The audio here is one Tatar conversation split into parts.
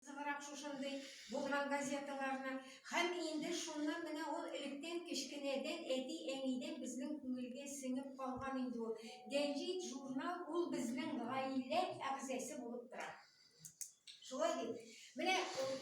Зыгырак шушындый булган газеталарны. Һәм инде шуннан менә ул электән кечкенәдән әти-әнидән безнең күңелгә сеңеп калган инде ул. Гәҗит, журнал ул безнең гаилә әгъзасе булып тора. Шулай бит? Менә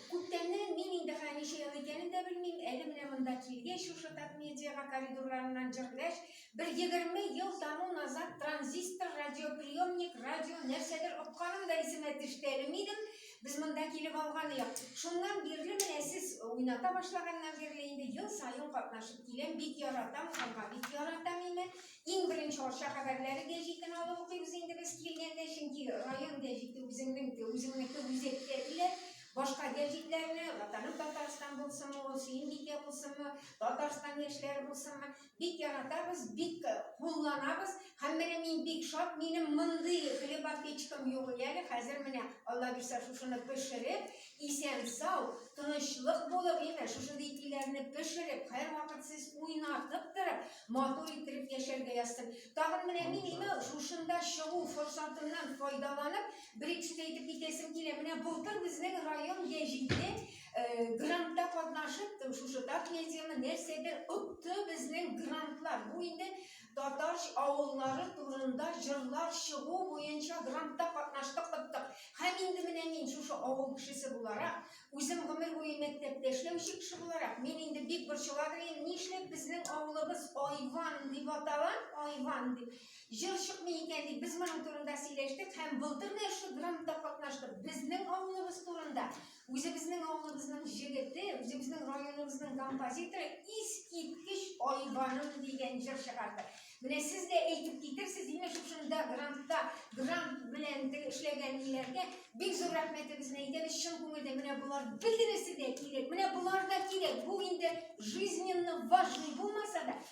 күптәннән мин инде хә ничә ел икәнен дә белмим, әле менә монда килгәч, шушы Татмедиага коридорларыннан җырлаш, бер егерме ел тому назад транзистор, радиоприемник, радио, нәрсәдер отканым да исемә төште әле минем, Без монда килеп алганыек. Шуннан бирле менә сез уйната башлаганнан бирле инде ел саен катнашып киләм. Бик яратам, ханга бик яратам инде. Иң беренче Арча хәбәрләре гәҗитен алып укыйбыз инде без килгәндә, чөнки район гәҗите үзеңнең үзеңнеке үзәктә килә. Башка гәҗитләрне, Ватаным Татарстан булсынмы, ул Сөембикә булсынмы, Татарстан яшьләре булсынмы, бик яратабыз, бик э, кулланабыз. Һәм менә мин бик шат, минем мондый хлебопечкам юк иде әле. Хәзер менә Алла бирсә шушыны пешереп, исән сау, тынычлык булып, әйме, шушындый итиләрне пешереп, һәрвакыт сез уйнатып торып, матур иттереп яшәргә язсын. Тагын менә мин әйме, шушында чыгу форсатыннан файдаланып, бер итеп әйтеп китәсем килә. Менә былтыр безнең район Яҗиде грантта катнашып, шушы так медианы нәрсәдер отты безнең грантлар. Бу инде татар авыллары турында җырлар чыгу буенча грантта катнаштык, оттык. Һәм инде менә мин шушы авыл кешесе буларак, үзем гомер буе мәктәптә эшләүче кеше буларак, мин инде бик борчыладыр идем, нишләп безнең авылыбыз Айван дип атала, Айван дип. Җыр чыкмый икән дип без моның турында сөйләштек һәм былтыр да шушы грантта катнаштык. Безнең авылыбыз турында Үзебезнең авылыбызның җегете, үзебезнең районыбызның композиторы искиткеч Айбаным дигән җыр чыгарды. Менә сез дә әйтеп китерсез, имеш шушында грантта, грант белән эшләгән иләргә бик зур рәхмәтебезне әйтәбез чын күңелдән. Менә болар бөтенесе дә кирәк. Менә болар да кирәк. Бу инде жизненно важный булмаса да,